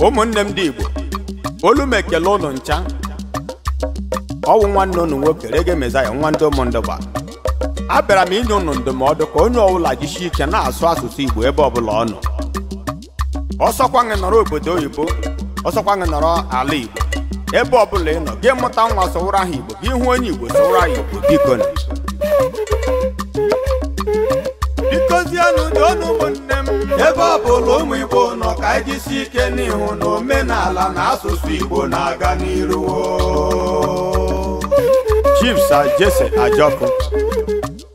ụmụnne m ndị igbo olu m ekele ụnụ ncha ọ wụ nwanne ụnụ nwoke reggae messiah nwa ndị ụmụndụgba abịara m inye ụnụ ndụmọdụ ka onye ọbụla jisie ike na-asụ asụsụ igbo ebe ọbụla ọ nọ ọ sọkwa gị nọrọ obodo oyibo ọ sọkwa gị nọrọ ala igbo ebe ọbụla ị nọ gị mụta nwa sụwụrụ ha igbo gị hụ onye igbo sụwụrụ ha igbo bikonụ bikozienụ doonụ ụmụnne m ebe ọ bụla ụmụ igbo nọ ka anyị jisi ike n'ịhụ na omenala na asụsụ igbo na-aga n'iru chief sir jesse ajọkụ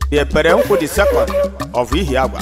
the ekpere nkwụ the second of ihiagwa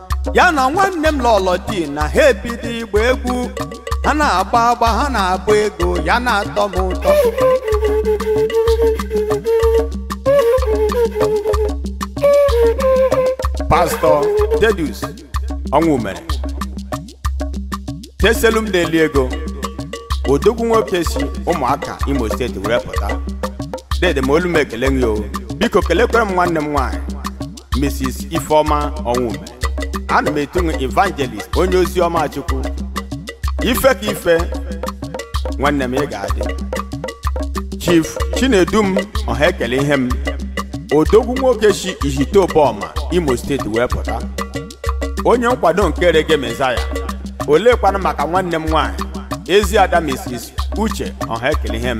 ya na nwanne m lọlọ tina ha ebido ịgba egwu ha na-agba agba ha na-agba ego ya na-atọ m ụtọ pastọ thaddeus ọnwụmere teselu m na-eli ego odogwu nwoke si ụmụaka imo steeti were pụta dede m olu m ekele gị o biko kelekwere m nwanne m nwaanyị mrs ifeoma ọnwụmere ana m etu nwe evangelist onye ozi ọma chukwu ife ka ife nwanne m ị ga-adị chief chinedum ọha ekele ihe m odogwu nwoke si ihite ụbọma imo steeti wee pụta onye nkwado nke reggae messiah oleekwanụ maka nwanne m nwaanyị ezi ada mrs uche ọha ekele ihe m